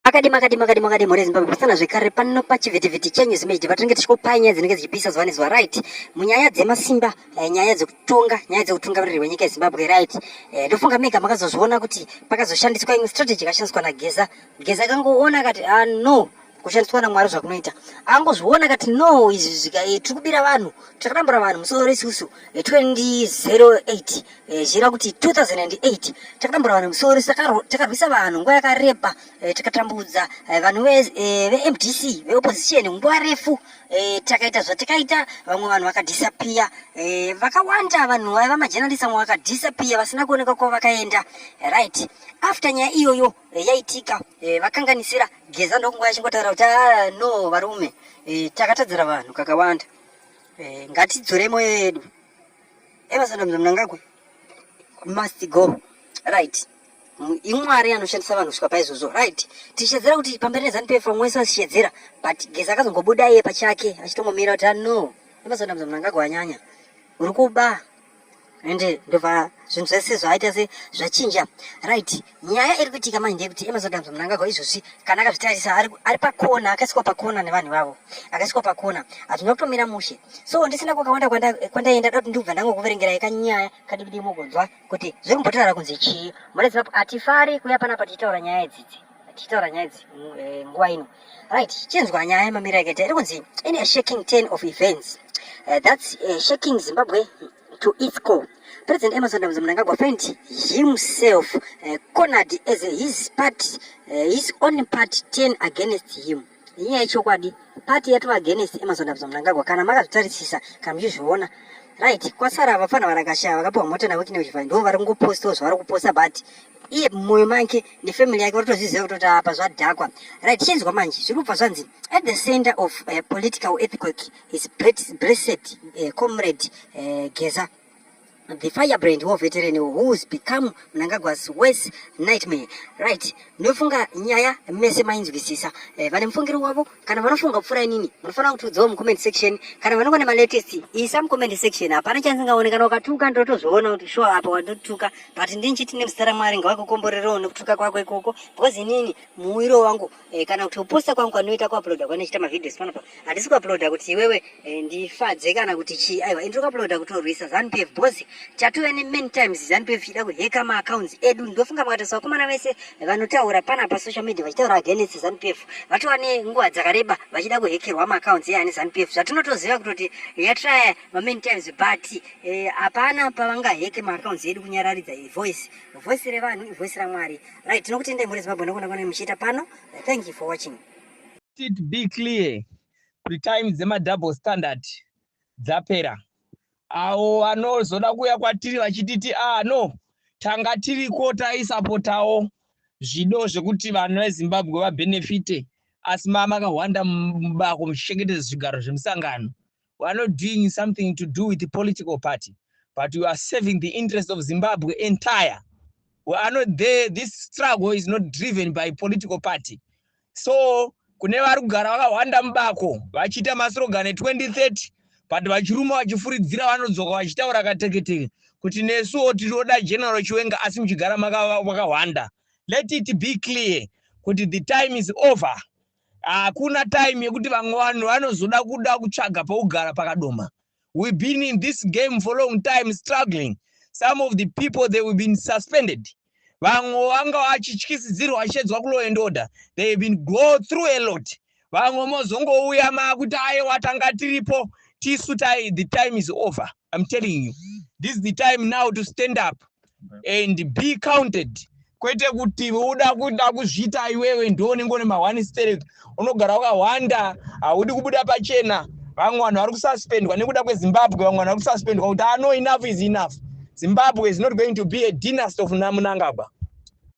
Akadimo akadimo akadimo akadimo re Zimbabwe pasana zvekare pano pachivhitivhiti chenyu zimejidi patinenge tichikupai nyaya dzinenge dzichipisa zuva nezuva right munyaya dzemasimba eh, nyaya dzekutonga nyaya dzekutungamiriri wenyika yezimbabwe right eh, ndofunga mega makazozviona kuti pakazoshandiswa imwe strategy yakashandiswa nageza geza akangoona akati ah, no kushandiswa namwari zvakunoita angozviona kati no izvi zvika eh, tiri kubira vanhu takarambura vanhu musoro isusu 2008 eh, Eh, zvichireva kuti 2008 takatamburwa nemusoro takarwisa vanhu nguva yakareba eh, takatambudza eh, vanhu vemdc veopposition nguva refu takaita zvatakaita vamwe vanhu vakadhisapiya vakawanda vanhu vaiva majenalist vamwe vakadhisapiya vasina kuoneka kuva vakaenda right after nyaya iyoyo yaitika vakanganisira geza ndokunguva yachingotaura kuti ah, no varume takatadzira vanhu kakawanda ngatidzore moyo yedu Evasadam Mnangagwa must go right imwari anoshandisa vanhu kusvika paizvozvo right tichishedzera kuti pamberi nezanu pf vamwe wese vachishedzera but geza akazongobuda iye pachake achitongomira kuti ano evasadam Mnangagwa anyanya uri kuba ende ndobva zvinhu zvese zvaaita se zvachinja right Nyaya iri kuitika manje ndeyekuti Emerson Damso Mnangagwa izvozvi kana akazvitarisa ari, ari pakona akasikwa pakona nevanhu vavo akasikwa pakona hazvina kutomira mushe so ndisina kwakawanda kwandaenda da kuti ndikubva ndangokuverengerai kanyaya kadiki diki mugonzwa kuti zviri kumbotirara kunzi chii murezimap hatifari kuya panapa tichitaura nyaya idzidzi tichitaura nyaya idzi mm, eh, nguva ino right chinzwa nyaya yemamira yakaita iri kunzi in a shaking ten of events uh, that's uh, shaking zimbabwe to its core. President Emerson Mnangagwa find himself uh, cornered as his party, uh, his own party turn against him. Inyaya yechokwadi party yatova against Emerson Mnangagwa kana makazvitarisisa kana muchizviona right kwasara vafana varakashaya vakapiwa mota navekine kuchivhai ndivo vari kungopostawo zvavari kuposta but iye mumwoyo make nefamily yake vatotozviziva kutoti apa zvadhakwa right chinzwa manje zviri kubva zvanzi at the center of uh, political epicoke is blessed uh, comrade uh, geza the firebrand wo veteran who's become mnangagwa's worse nightmare right ndofunga nyaya mese mainzwisisa eh, vane mufungiro wavo kana vanofunga kupfuura inini munofanira kutiudzawo mucomment section kana vanonga nemalatest isa mucomment section hapana chanzingaone kana ukatuka ndotozviona kuti sure apa wandotuka but ndinchiti nemuzita ramwari ngavakukomborerawo nekutuka kwako ikoko because inini muwiro wangu eh, kana kuti kuposta kwangu kwanoita kuuploada kwanochita mavideos pano pa handisi kuuploada kuti iwewe eh, ndifadze kana kuti chii aiwa ndiri kuuploada kutorwisa zanupf bcause chatove nemany times zanupf chida kuheka maaccounts edu ndofunga makatarisa vakomana vese vanotaura pana pasocial media vachitaura against zanupf vatova nenguva dzakareba vachida kuhekerwa maaccounts eani zanupf zvatinotoziva kutoti yatraya mamany times but eh, hapana pavangaheke maaccounts edu kunyararidza voice voice revanhu ivoice ramwari right tinokutendai mhuri zimbabwe nokona kwanai muchiita pano thank you for watching it be clear kuti time dzemadouble standard dzapera avo vanozoda kuuya kwatiri vachititi ah no tanga tiriko taisapotawo zvido zvekuti vanhu vezimbabwe vabhenefite asi mamakahwanda mubako muchichengetedza zvigaro zvemusangano we are not doing something to do with the political party but we are serving the interest of zimbabwe entire we are not there this struggle is not driven by political party so kune vari kugara vakahwanda mubako vachiita masurogane 2030 but vachiruma vachifuridzira vanodzoka vachitaura kateketeke kuti nesuwo tinoda general chiwenga asi muchigara makahwanda let it be clear kuti the time is over hakuna time yekuti vamwe vanhu vanozoda kuda kutsvaga pokugara pakadoma we been in this game for long time struggling some of the people they weve been suspended vamwe vanga vachityisidzirwa vachiedzwa kulaw and order they have been go through a lot vamwe mozongouya makuti ayewa tanga tiripo tisu tai the time is over im telling you this is the time now to stand up and be counted kwete kuti uda kuda kuzviita iwewe ndiwo unenge une mahwani sterek unogara wakahwanda haudi kubuda pachena vamwe vanhu vari kususpendwa nekuda kwezimbabwe vamwe vanhu vari kususpendwa kuti ano ah, enough is enough zimbabwe is not going to be a dynast of namunangagwa